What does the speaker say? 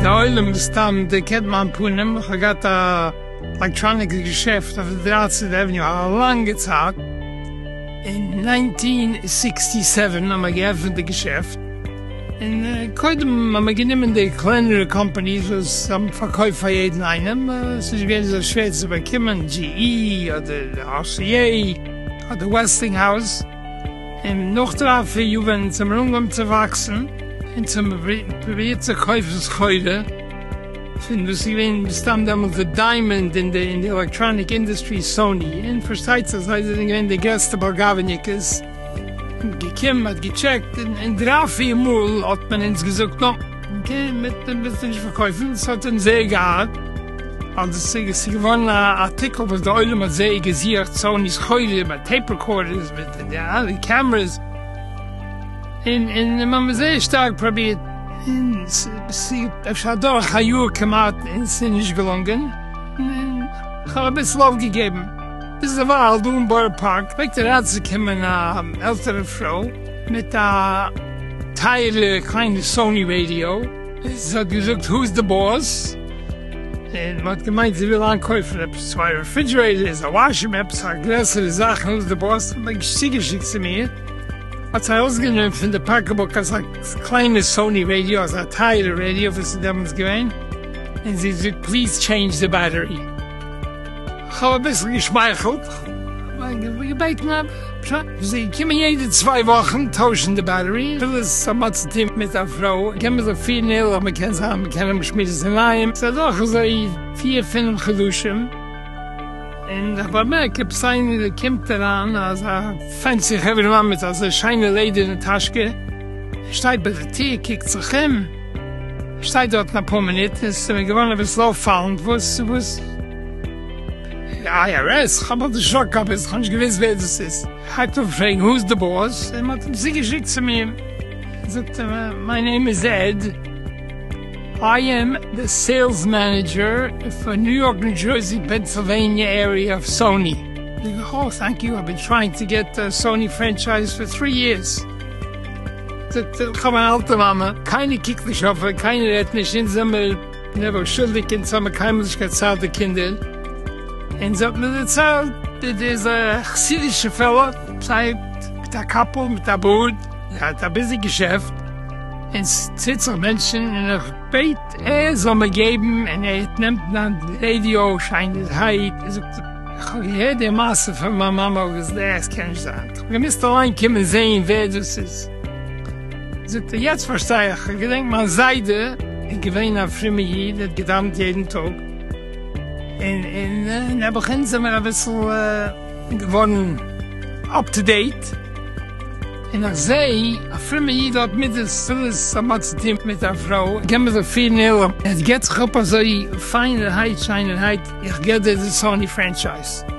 די עולם מסתם דערקענט מיין פנים, איך האב געהאט א עלעקטראניקס געשעפט אויף די דרייצענטע עוועניו א לאנגע צייט, אין נײַנצן הונדערט זיבן און זיבעציק האבן מיר געעפענט די געשעפט, און קודם האבן מיר גענומען די קלענערע קאמפאניס וואס האבן פארקויפט פאר יעדן איינעם, עס איז געווען זייער שווער צו באקומען GE אדער RCA אדער Westinghouse, און נאך דריי פיר יאר ווען אונז האבן אנגעהויבן צו וואקסן און צו האבן פרובירט צו קויפן סחורה פון וואס איז געווען מסתם דעמאלט די דיימאנד אין די עלעקטראניק אינדוסטרי Sony, און פארשטייט זיך זיי זענען געווען די גרעסטע באלגאוועניוקעס. געקומען מ'האט געטשעקט און דריי פיר מאל האט מען אונז געזאגט נא גע מיט דעם ביסט נישט פארקויפן, ס'האט אים זייער געארט אז עס איז געווארן א ארטיקל וואס די עולם האט זייער געזוכט, סאוני סחורה מיט טעיפ רעקארדערס מיט די אלע קעמרעס און און מ'האט מיר זייער שטארק פראבירט און ס'איז אפשר אדורך א יאר כמעט און ס'איז נישט געלונגען און כ'האב אביסל אויפגעגעבן. איז דערווייל דא אין בארא פארק פלעגט אריינצוקומען א עלטערע פרוי מיט א טייערע קליינע סאני רעדיא, זי האט געזאגט הוז דע באס? און מען האט געמיינט זי וויל איינקויפן עפעס צוויי רעפרידזשערעיטערס, א וואשרום, עפעס א גרעסערע זאך, הוז דע באס? האט מען צוגעשיקט צו מיר, האט זי ארויסגענומען פון די פאקעבוק אזא קליינע סאני רעדיא, אזא טייערע רעדיא וואס איז דעמאלטס געווען, און זי האט געזאגט פליז טשעינדזש דע בעטערי. כ'האב אביסל געשמייכלט, געבעטן א פשרה, וואס זיי קומען יעדע צוויי וואכן טוישן די בעטערי, אפילו עס האט מער צו טון מיט א פרוי, קען מען זיך פירן ערליך, מען קען זיין מען קען האבן שמועס אינאיינעם, ס'איז אדורך אזוי פיר פינעף חדשים, און איך באמערק עפעס איינער קומט אריין, אזא פענסי חברה מאן מיט אזא שיינע לעדערנע טאשקע, שטייט ביי די טיר קוקט זיך אום. שטיי דארטן אפאר מינוט און ס'איז מיר געווארן אביסל אויפפאלנד וואס וואס IRS? כ'האב אלס נישט אנגעכאפט ביז כ'האב נישט געוואוסט ווער דאס איז. הייבט אן פרעגן who's the boss און מ'האט אים צוגעשיקט צו מיר, זאגט ער מיי נעים איז עד, איי עם די סעילס מענעדזשער פאר ניו יארק ניו דזשערסי פענסילוועניע עריע אוו סאוני. זאג איך, אוי טענק יו, איי בין טרייענג טו געט סאוני פרענטשייז פאר טרי יערס. איך האב אן אלטע מאמע, קיינער קוקט נישט אויף איר, קיינער רעדט נישט, אונז זעמיר נעבעך שולדיג, אונז האמיר קיינמאל נישט געציילט די קינדער, אונז האט מען דערציילט ווי דאס א חסידישע פעלא, זיי מיט א קאפל מיט א בארד, זיי האט א ביזי געשעפט, און ס'ציט זיך מענטשן, און איך בעט ער זאל מיר געבן, און ער נעמט מיין רעדיא שיינערהייט, און זאגט איך האב געהערט די מעשה פון מיין מאמע, וואס דעס קען נישט זיין. איר מוזט אליין קומען זעהן ווער דאס איז. זאגט ער, יעצט פארשטיי איך, איך געדענק מיין זיידע איז געווען א פרומע איד, ער האט געדאווענט יעדן טאג, און און נעבעכין זעמער אביסל געווארן אפ טו דעיט, און איך זעה א פרומע איד האט מידות פילעס האט מען צו טון מיט א פרוי, קען מען זיך פירן ערליך, עס געט זיך אפ אזוי פיינערהייט שיינערהייט, איך געב דיר די סאני פרענטשייז.